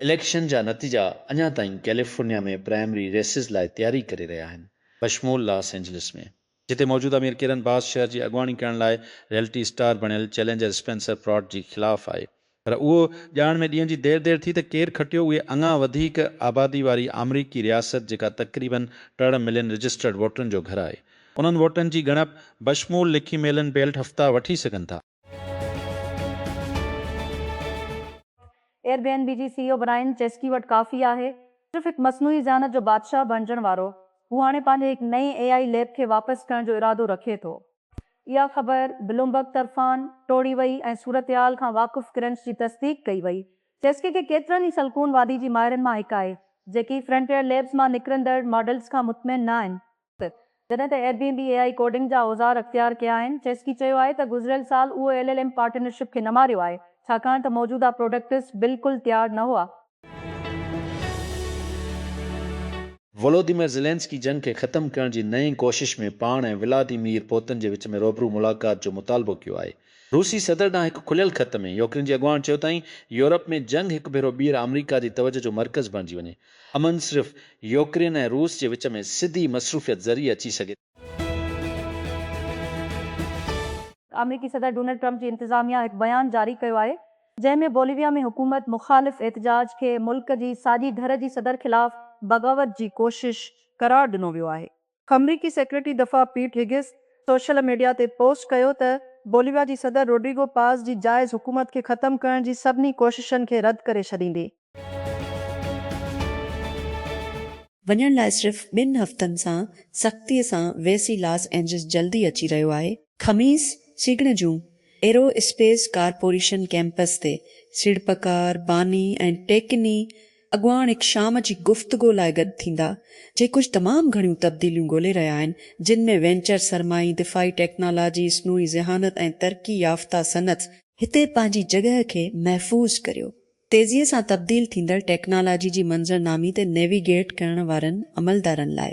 Election جا نتيجا اڃا تائين ڪيليفورنيا ۾ پرائمري ريسز لاء تياري ڪري رهيا آهن، بشمول لاس اينجلس ۾، جتي موجوده ميئر ڪيرن باس شهر جي اڳواڻي ڪرڻ لاء ريئلٽي اسٽار بڻيل چئلينجر اسپينسر پراٽ جي خلاف آهي، پر اهو ڄاڻڻ ۾ ڏينهن جي دير دير ٿي ته ڪير کٽيو اهي اڱا وڌيڪ آبادي واري آمريڪي رياست جيڪا تقريباً ٽڙ ملين رجسٽرڊ ووٽرن جو گهر آهي. انهن ووٽن جي ڳڻپ بشمول لکي ميلن بيلٽ هفتا وٺي سگهن ٿا. ايئر بي اين بي جي C E O Brian Chesky وٽ ڪافي آهي صرف هڪ مصنوعي ذهانت جو بادشاهه بڻجڻ وارو. هو هاڻي پنهنجي هڪ نئين اي آء ليب کي واپس ڪرڻ جو ارادو رکي ٿو. اها خبر بلومبرگ طرفان ٽوڙي وئي ۽ صورتحال کان واقف ڪرنچ جي تصديق ڪئي وئي. چيسڪي کي ڪيترن ئي سلڪون وادي جي ماهرن مان هڪ آهي، جيڪي فرنٽيئر ليبز مان نڪرندڙ ماڊلز کان مطمئن نه آهن، جڏهن ته Airbnb A I coding جا اوزار اختيار ڪيا آهن، چيسڪي چيو آهي ته گذريل سال اهو ايل ايل ايم پارٽنرشپ کي نه ماريو آهي، ڇاڪاڻ ته موجوده پروڊڪٽس بلڪل تيار نه هئا. ولوديمير زيلينسڪي جنگ کي ختم ڪرڻ جي نئين ڪوشش ۾ پاڻ ۽ ولاديمير پوتن جي وچ ۾ روبرو ملاقات جو مطالبو ڪيو آهي. روسي صدر ڏانهن هڪ کليل خط ۾ يوڪرين جي اڳواڻ چيو تائين يورپ ۾ جنگ هڪ ڀيرو ٻيهر آمريڪا جي توجهه جو مرڪز بڻجي وڃي. امن صرف يوڪرين ۽ روس جي وچ ۾ سڌي مصروفيت ذريعي اچي سگهي ٿو. آمريڪي صدر ڊونلڊ ٽرمپ جي انتظاميا هڪ بيان جاري ڪيو آهي جنهن ۾ بوليويا ۾ حڪومت مخالف احتجاج کي ملڪ جي ساڄي ڌر جي صدر خلاف بغاوت جي ڪوشش قرار ڏنو ويو آهي. آمريڪي سيڪريٽري دفاع پيٽ هيگس سوشل ميڊيا تي پوسٽ ڪيو ته بوليويا جي صدر روڊريگو پاز جي جائز حڪومت کي ختم ڪرڻ جي سڀني ڪوششن کي رد ڪري ڇڏيندي وڃڻ لاء صرف ٻن هفتن سان سختيء سان ويسي لاس اينجلس جلدي اچي رهيو آهي. خميس سگهڙ جون ايرو اسپيس ڪارپوريشن ڪيمپس تي سيڙپڪار، باني ۽ ٽيڪني اڳواڻ هڪ شام جي گفتگو لاء گڏ ٿيندا، جي ڪجهه تمام گهڻيون تبديليون ڳولي رهيا آهن، جن ۾ وينچر سرمائي، دفاعي ٽيڪنالاجي، اصنوعي ذهانت ۽ ترقي يافته صنعت. هتي پنهنجي جڳهه کي محفوظ ڪريو، تيزيء سان تبديل ٿيندڙ ٽيڪنالاجي جي منظرنامي تي نيوي گيٽ ڪرڻ وارن عملدارن لاء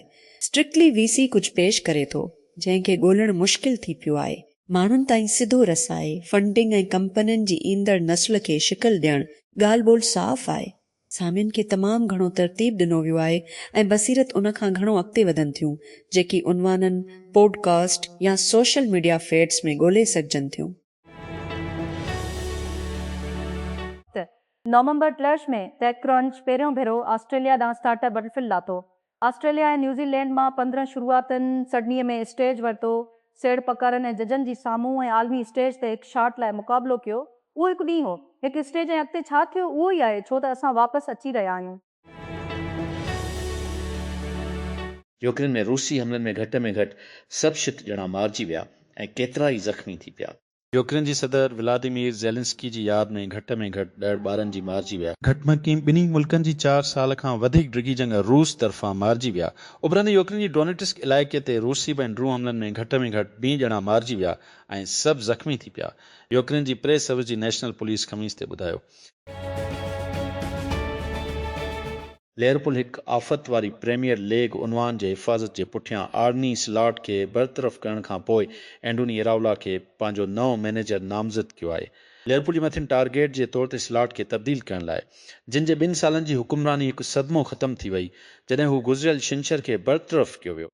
Strictly VC ڪجهه پيش ڪري ٿو، جنهن کي ڳولڻ مشڪل ٿي پيو آهي. ماڻهن تائين سڌو رسائي، فنڊنگ ۽ ڪمپنين جي ايندڙ نسل کي شڪل ڏيڻ ڳالهه ٻولهه صاف آهي. سامين کي تمام گهڻو ترتيب ڏنو ويو آهي ۽ بصيرت ان کان گهڻو اڳتي وڌن ٿيون، جيڪي عنوانن، پوڊ ڪاسٽ يا سوشل ميڊيا فيڊز ۾ ڳولهي سگهجن ٿيون. ته نومبر ٽيلرش ۾ ٽيڪ ڪرنچ پهريون ڀيرو آسٽريليا ڏانهن اسٽارٽ اپ بٽرفل لاٿو. آسٽريليا ۽ نيوزي لينڊ مان پندرهن شروعاتين سڊني ۾ اسٽيج ورتو، سيڙ پڪارن ۽ ججن جي سامهون ۽ عالمي اسٽيج تي هڪ شاٽ لاء مقابلو ڪيو. اهو هڪ ڏينهن هو. هڪ اسٽيج ۽ اڳتي ڇا ٿيو اهو ئي آهي ڇو ته اسان واپس اچي رهيا آهيون. يوڪرين ۾ روسي حملن ۾ گهٽ ۾ گهٽ سڀ شت ڄڻا مارجي ويا ۽ ڪيترائي زخمي ٿي پيا. يوڪرين جي صدر ولاديمير زيلنسڪي جي ياد ۾ گهٽ ۾ گهٽ ڏهه ٻارن جي مارجي ويا. گهٽ ۾ گهٽ ٻنهي ملڪن جي چار سال کان وڌيڪ ڊگهي جنگ روس طرفان مارجي ويا. اڀرندي يوڪرين جي ڊونيٽسڪ علائقي تي روسي بين ڊرون حملن ۾ گهٽ ۾ گهٽ بين ڄڻا مارجي ويا ۽ سڀ زخمي ٿي پيا. يوڪرين جي پريس سروس جي نيشنل پوليس خميس تي ٻڌايو. ليورپول هڪ آفت واري پريميئر ليگ عنوان جي حفاظت جي پٺيان آرني سلاٽ کي برطرف ڪرڻ کان پوء اينڊوني اراولا کي پنهنجو نئون مئنيجر نامزد ڪيو آهي. ليورپول جي مٿين ٽارگيٽ جي طور تي سلاٽ کي تبديل ڪرڻ لاء جن جي ٻن سالن جي حڪمراني هڪ صدمو ختم ٿي وئي جڏهن هو گذريل ڇنڇر کي برطرف ڪيو ويو.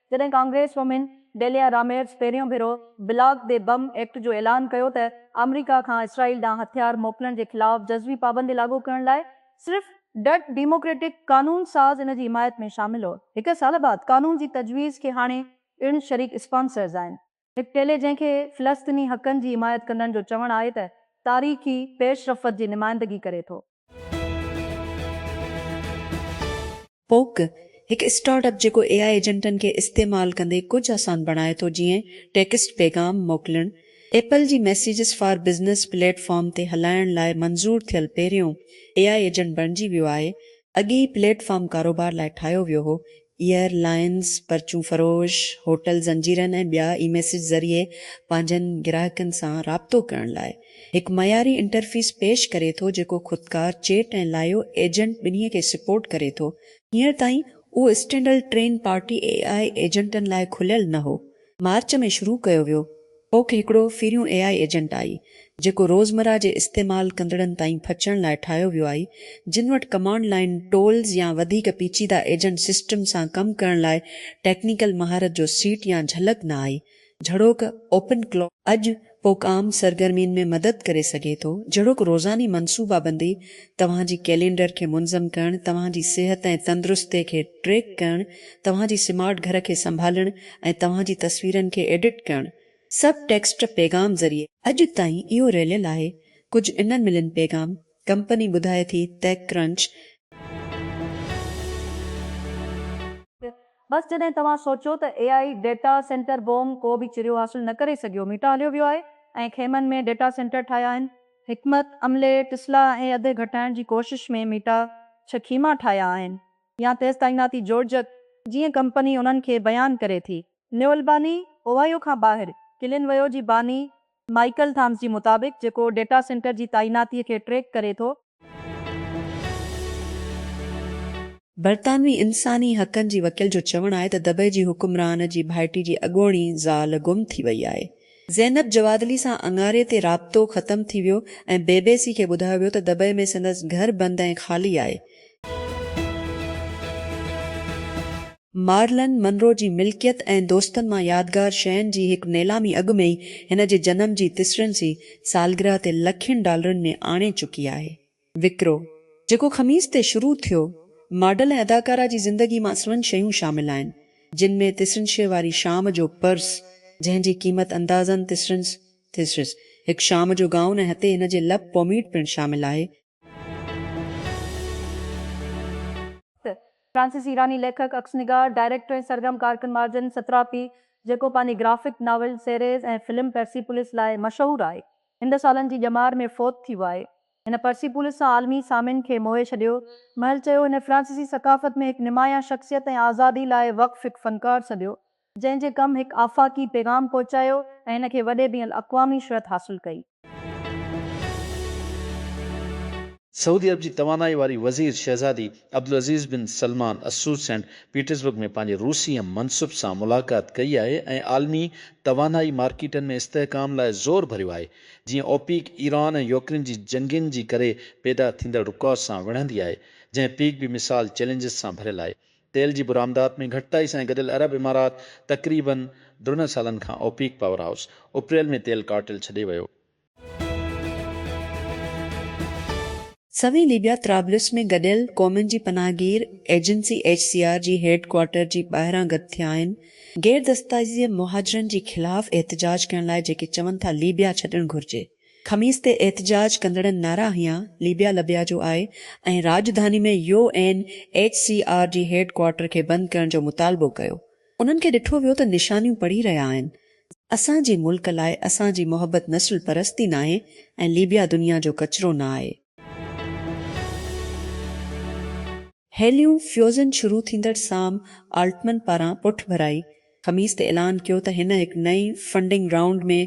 جڏهن ڪانگريس وومين ڊيليا راميرز پهريون ڀيرو بلاڪ دي بم ايڪٽ جو اعلان ڪيو ته آمريڪا کان اسرائيل ڏانهن هٿيار موڪلڻ جي خلاف جزوي پابندي لاڳو ڪرڻ لاء صرف ڊٽ ڊيموڪريٽڪ قانون ساز ان جي حمايت ۾ شامل هو. هڪ سال بعد قانون جي تجويز کي هاڻي پڻ شريڪ اسپانسرز آهن. هڪ ٽيلي جنهن کي فلسطيني حقن جي حمايت ڪندڙن جو چوڻ آهي ته تاريخي پيش رفت جي نمائندگي ڪري ٿو. پوڪ، هڪ اسٽارٽ اپ جيڪو اي آء ايجنٽن کي استعمال ڪندي ڪجهه آسان بڻائي ٿو جيئن ٽيڪسٽ پيغام موڪلڻ، ايپل جي Messages for Business platform تي هلائڻ لاء منظور ٿيل پهريون اي آء ايجنٽ بڻجي ويو آهي، اڳي هي پليٽ فارم ڪاروبار لاء ٺاهيو ويو هو، ايئر لائنز، پرچون فروش، هوٽل زنجيرن ۽ ٻيا اي ميسيج ذريعي پنهنجن گراهڪن سان رابطو ڪرڻ لاء هڪ معياري انٽرفيس پيش ڪري ٿو جيڪو خودڪار چيٽ ۽ لائيو ايجنٽ ٻنهي کي سپورٽ ڪري ٿو. هينئر تائين اهو اسٽينڊل ٽرين پارٽي اي آء ايجنٽن لاء کليل نه هو مارچ ۾ شروع ڪيو ويو ڪوڪ هڪڙو پھريون اي آء ايجنٽ آھي جيڪو روزمره جي استعمال ڪندڙن تائين پھچڻ لاء ٺاھيو ويو آھي جن وٽ ڪمانڊ لائين ٽولز يا وڌيڪ پيچيده ايجنٽ سسٽم سان ڪم ڪرڻ لاء ٽيڪنيڪل مھارت جو سيٽ يا جھلڪ نه آھي جھڙوڪ اوپن ڪلو اڄ پوک عام سرگرمين ۾ مدد ڪري سگهي ٿو، جهڙوڪ روزاني منصوبابندي، توهان جي ڪئلينڊر کي منظم ڪرڻ، توهان جي صحت ۽ تندرستي کي ٽريڪ ڪرڻ، توهان جي سمارٽ گهر کي سنڀالڻ ۽ توهان جي تصويرن کي ايڊٽ ڪرڻ. سب ٽيڪسٽ پيغام ذريعي. اڄ تائين اهو رليل آهي. ڪجهه انهن ملين پيغام. ڪمپني ٻڌائي ٿي Tech Crunch. بس جڏهن توهان سوچو ته A I data centre boom ڪو به چريو حاصل نه ڪري سگهيو ميٽا هليو ويو آهي ۽ خيمن ۾ ڊيٽا سينٽر ٺاهيا آهن. حڪمت عملي ٽسلا ۽ اڌ گهٽائڻ جي ڪوشش ۾ ميٽا ڇهه خيما ٺاهيا آهن يا تيز تعيناتي جوڙجڪ جيئن ڪمپني انهن کي بيان ڪري ٿي. نيولباني اوهائيو کان ٻاهر ڪلين ويو جي باني مائيڪل ٿامس جي مطابق، جيڪو ڊيٽا سينٽر جي تعيناتي کي ٽريڪ ڪري ٿو. برطانوي انساني حقن جي وڪيل جو چوڻ آهي ته دبئي جي حڪمران جي ڀائٽي جي اڳوڻي زال گم ٿي وئي آهي. زينب جوادلي سان اڱاري تي رابطو ختم ٿي ويو ۽ بي بي سي کي ٻڌايو ويو ته دبئي ۾ سندس گهر بند ۽ خالي آهي. مارلن منرو جي ملڪيت ۽ دوستن مان يادگار شين جي هڪ نيلامي اڳ ۾ ئي هن جي جنم جي تسرين سي سالگرهه تي لکين ڊالرن ۾ آڻي چڪي آهي. وڪرو، جيڪو خميس تي شروع ٿيو، ماڊل ۽ اداڪارا جي زندگي مان سوين شيون شامل آهن، جن ۾ تسرينشي واري شام جو پرس، جنهن جي قيمت اندازن تسرينس Theseus، هڪ شام جو گائون ۽ هتي هن جي لپ پوميڊ پڻ شامل آهي. فرانسيسي ايراني ليکڪ، عڪس نگار، ڊائريڪٽر ۽ سرگرم ڪارڪن مارجن ستراپي، جيڪو پنهنجي graphic novel series ۽ film Persepolis لاء مشهور آهي، هند سالن جي ڄمار ۾ فوت ٿي ويو آهي. هن پرسيپولس سان عالمي سامعين کي موهي ڇڏيو. مهل چيو، هن فرانسيسي ثقافت ۾ هڪ نمايان شخصيت ۽ آزادي لاء وقف هڪ فنڪار سڏيو، جنهن جي ڪم هڪ آفاقي پيغام پهچايو ۽ هن کي وڏي بين الاقوامي شهرت حاصل ڪئي. سعودي عرب جي توانائي واري وزير شهزادي Abdulaziz bin Salman Al Saud Saint Petersburg ۾ پنهنجي روسي هم منصب سان ملاقات ڪئي آهي ۽ عالمي توانائي مارڪيٽن ۾ استحڪام لاء زور ڀريو آهي جيئن اوپيڪ ايران ۽ يوڪرين جي جنگين جي ڪري پيدا ٿيندڙ رڪاو سان وڙهندي آهي جنهن پيڪ به مثال چئلينجز سان ڀريل آهي تيل جي برآمدات ۾ گهٽتائي سان گڏيل عرب امارات تقريباً ڊرنهن سالن کان اوپيڪ پاور هائوس اپريل ۾ تيل ڪارٽيل ڇڏي ويو. سوين ليبيا طرابلس ۾ گڏيل قومن جي پناهه گير ايجنسي ايڇ سي آر جي هيڊ ڪوارٽر جي ٻاهران گڏ ٿيا آهن غير دستايزيء مهاجرن جي خلاف احتجاج ڪرڻ لاء جيڪي چون ٿا ليبيا ڇڏڻ گهرجي خميس تي احتجاج ڪندڙن نعرا هنيا، ليبيا لبيا جو آء ۽ راڄڌاني ۾ U N H C R جي هيڊ ڪوارٽر کي بند ڪرڻ جو مطالبو ڪيو. انهن کي ڏٺو ويو ته نشانيون پڙهي رهيا آهن. اسان جي ملڪ لاء اسان جي محبت نسل پرستي ناهي ۽ ليبيا دنيا جو ڪچرو نه آهي. هيليون فيوزن شروع ٿيندڙ سام آلٽمن پاران پٺڀرائي خميس تي اعلان ڪيو ته هن هڪ نئين فنڊنگ رائونڊ ۾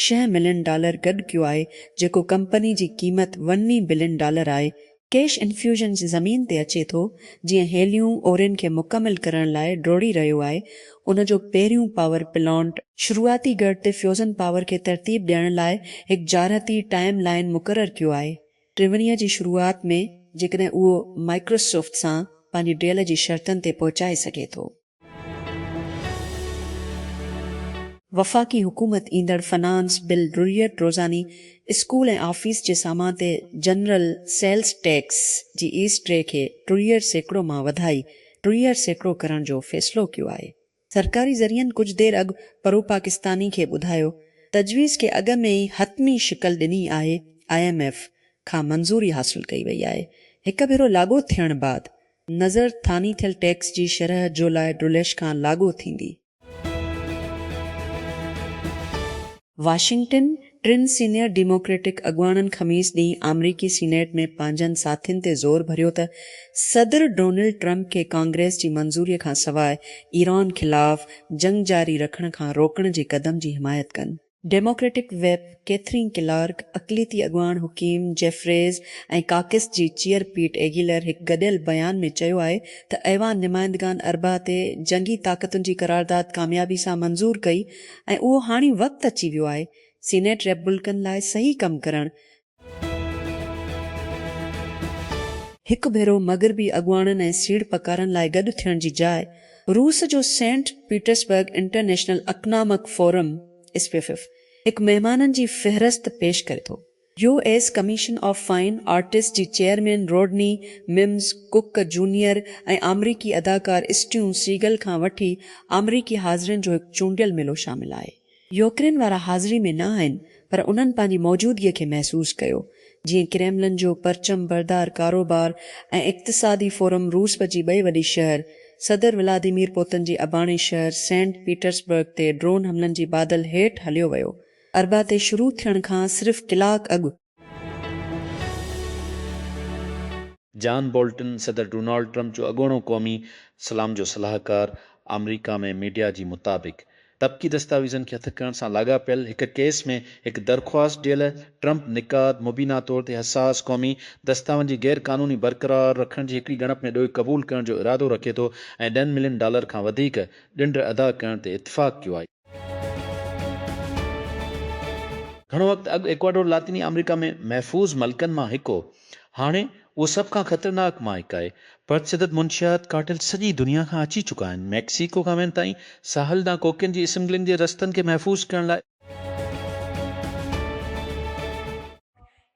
شينهن ملين ڊالر گڏ ڪيو آهي جيڪو ڪمپني جي قيمت ونوي بلين ڊالر آهي. ڪيش انفيوزن جي زمين تي اچي ٿو جيئن هيليون اورين کي مڪمل ڪرڻ لاء ڊوڙي رهيو آهي ان جو پهريون پاور پلانٽ، شروعاتي گڙھ تي فيوزن پاور کي ترتيب ڏيڻ لاء هڪ جارحتي ٽائيم لائين مقرر ڪيو آهي ٽيونيء جي شروعات ۾ جيڪڏهن اهو مائڪروسوفٽ سان پنهنجي ڊيل جي شرطن تي پهچائي سگهي ٿو. وفاقي حڪومت ايندڙ فنانس بل ڊريٽ روزاني اسڪول ۽ آفيس جي سامان تي general sales tax G S T کي ٽيهه سيڪڙو مان وڌائي ٽيهه سيڪڙو ڪرڻ جو فيصلو ڪيو آهي. سرڪاري ذريعن ڪجهه دير اڳ پروپاڪستاني کي ٻڌايو تجويز کي اڳ ۾ ئي حتمي شڪل ڏني آهي، آء ايم ايف کان منظوري حاصل ڪئي وئي آهي، هڪ ڀيرو لاڳو ٿيڻ بعد نظر ٿاني ٿيل ٽيڪس جي شرح جولاء ڊوليش کان لاڳو ٿيندي. واشنگٽن، ٽن سينيئر ڊيموڪريٽڪ اڳواڻن خميس ڏينهن آمريڪي سينيٽ ۾ پنهنجن ساٿين تي زور ڀريو ته صدر ڊونلڊ ٽرمپ کي ڪانگريس جي منظوري کان سواء ايران خلاف جنگ جاري رکڻ کان روڪڻ جي قدم جي حمايت ڪن. ڊيموڪريٽڪ ويپ ڪيٿرين ڪلارڪ، اقليتي اڳواڻ حڪيم جيفريز ۽ ڪاڪس جي چيئر پيٽ ايگيلر هڪ گڏيل بيان ۾ چيو آهي ته ايوان نمائندگان اربع تي جنگي طاقتن جي قرارداد ڪاميابي سان منظور ڪئي ۽ اهو هاڻي وقت اچي ويو آهي سينيٽ ريپبلڪن لاء صحيح ڪم ڪرڻ. هڪ ڀيرو مغربي اڳواڻن ۽ سيڙپڪارن لاء گڏ ٿيڻ جي جاء روس جو Saint Petersburg International Economic Forum, SPIEF, هڪ مهمانن جي فهرست پيش ڪري ٿو. U S Commission of Fine Arts جي chairman Rodney Mims Cook Junior ۽ آمريڪي اداڪار اسٽيون سيگل کان وٺي آمريڪي حاضرين جو هڪ چونڊيل ميلو شامل آهي. يوڪرين وارا حاضري ۾ نه آهن پر انهن پنهنجي موجودگي کي محسوس ڪيو جيئن ڪريملن جو پرچم بردار ڪاروبار ۽ اقتصادي فورم روسب جي ٻئي وڏي شهر صدر ولاديمير پوتن جي اباڻي شهر سينٽ پيٽرسبرگ تي ڊرون حملن جي بادل هيٺ هليو ويو اربع تي شروع ٿيڻ کان صرف ڪلاڪ اڳ. جان بولٽن صدر ڊونالڊ ٽرمپ جو اڳوڻو قومي سلام جو صلاحڪار آمريڪا ۾ ميڊيا جي مطابق طبقي دستاويزن کي هٿ ڪرڻ سان لاڳاپيل هڪ ڪيس ۾ هڪ درخواست ڏيل ٽرمپ نقاد مبينا طور تي حساس قومي دستاون جي غير قانوني برقرار رکڻ جي هڪڙي ڳڻپ ۾ ڏوهه قبول ڪرڻ جو ارادو رکي ٿو ۽ ڏهن ملين ڊالر کان وڌيڪ ڏنڊ ادا ڪرڻ تي اتفاق ڪيو آهي. گهڻو وقت اڳ ايڪواڊور لاطيني آمريڪا ۾ محفوظ ملڪن مان هڪ هو. هاڻي اهو سڀ کان خطرناڪ مان هڪ آهي. پرتشدد منشيات ڪارٽيل سڄي دنيا کان اچي چڪا آهن، ميڪسيڪو کان وين تائين، ساحل ڏانهن ڪوڪين جي اسمگلنگ جي رستن کي محفوظ ڪرڻ لاء.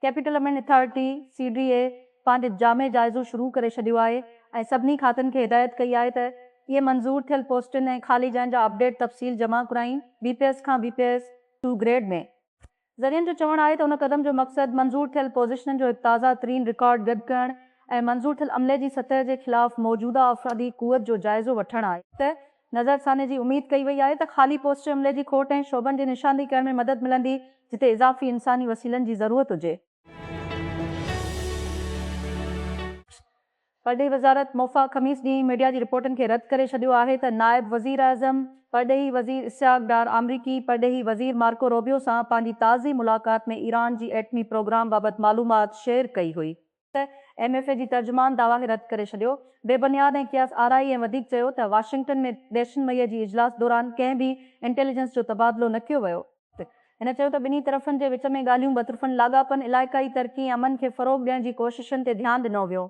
ڪيپيٽل امينڊ اٿارٽي، سي ڊي اي، پنهنجو جامع جائزو شروع ڪري ڇڏيو آهي ۽ سڀني کاتن کي هدايت ڪئي آهي ته اهي منظور ٿيل پوسٽن ۽ خالي جاين جا اپڊيٽ تفصيل جمع ڪرائين بي پي ايس کان B P S two grade ۾. ذريعن جو چوڻ آهي ته ان قدم جو مقصد منظور ٿيل پوزيشنن جو هڪ تازه ترين رڪارڊ گڏ ڪرڻ ۽ منظور ٿيل عملي جي سطح جي خلاف موجوده افرادي قوت جو جائزو وٺڻ آهي. ته نظرثاني جي اميد ڪئي وئي آهي ته خالي پوسٽ عملي جي کوٽ ۽ شعبن جي نشاندهي ڪرڻ ۾ مدد ملندي جتي اضافي انساني وسيلن جي ضرورت هجي. پرڏيهي وزارت موفا خميس ڏينهن ميڊيا جي رپورٽن کي رد ڪري ڇڏيو آهي ته نائب وزيراعظم پرڏيهي وزير اسحاق ڊار آمريڪي پرڏيهي وزير مارڪو روبيو سان پنهنجي تازي ملاقات ۾ ايران جي ايٽمي پروگرام بابت معلومات شيئر ڪئي هئي. ته ايم ايف اي جي ترجمان دعويٰ کي رد ڪري ڇڏيو. بي بنياد ۽ قياس آرائي ۽ وڌيڪ چيو ته واشنگٽن ۾ ڏهشن مئي جي اجلاس دوران ڪنهن به انٽيليجنس جو تبادلو نه ڪيو ويو. هن چيو ته ٻنهي طرفن جي وچ ۾ ڳالهيون ٻطرفن لاڳاپن، علائقائي ترقي ۽ امن کي فروغ ڏيڻ جي ڪوششن تي ڌيان ڏنو ويو.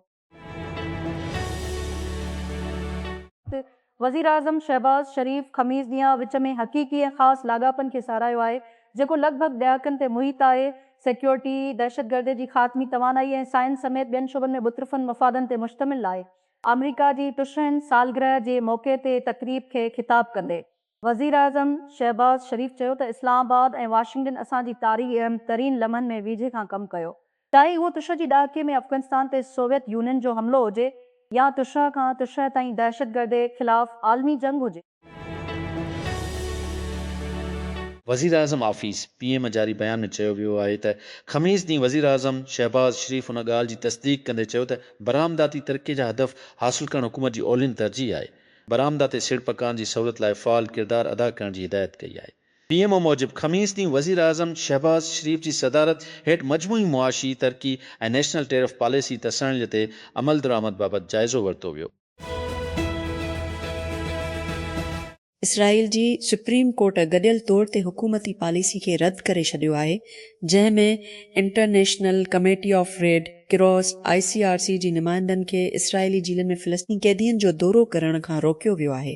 وزيراعظم شهباز شريف خميس ڏينهن وچ ۾ حقيقي ۽ خاص لاڳاپن کي ساراهيو آهي، جيڪو لڳ ڀڳ ڏهاڪن تي محيط آهي، سيڪيورٽي، دهشتگردي جي خاتمي، توانائي ۽ سائنس سميت ٻين شعبن ۾ ٻطرفن مفادن تي مشتمل آهي. آمريڪا جي ٽشهين سالگرهه جي موقعي تي تقريب کي خطاب ڪندي وزيراعظم شهباز شريف چيو ته اسلام آباد ۽ واشنگٽن اسان جي تاريخي اهم ترين لمحن ۾ ويجهي کان ڪم ڪيو، چاهي اهو تشهه جي ڏهاڪي ۾ افغانستان تي سوويت يونين جو حملو هجي يا تشهه کان تشهه تائين دهشتگردي خلاف عالمي جنگ هجي. وزيراعظم آفيس، پي ايم، جاري بيان ۾ چيو ويو آهي ته خميس ڏينهن وزيراعظم شهباز شريف ان ڳالهه جي تصديق ڪندي چيو ته برآمداتي ترقي جا هدف حاصل ڪرڻ حڪومت جي اولين ترجيح آهي. برآمداتي سيڙپڪارن جي سهولت لاء فعال ڪردار ادا ڪرڻ جي هدايت ڪئي آهي. پي ايم او موجب خميس ڏينهن وزيراعظم شهباز شريف جي صدارت هيٺ مجموعي معاشي ترقي ۽ نيشنل ٽيرف پاليسي تسهيل تي عملدرآمد بابت جائزو ورتو ويو. اسرائيل جي سپريم ڪورٽ گڏيل طور تي حڪومتي پاليسي کي رد ڪري ڇڏيو آهي جنهن ۾ International Committee of Red Cross, I C R C, جي نمائندن کي اسرائيلي جيلن ۾ فلسطيني قيدين جو دورو ڪرڻ کان روڪيو ويو آهي.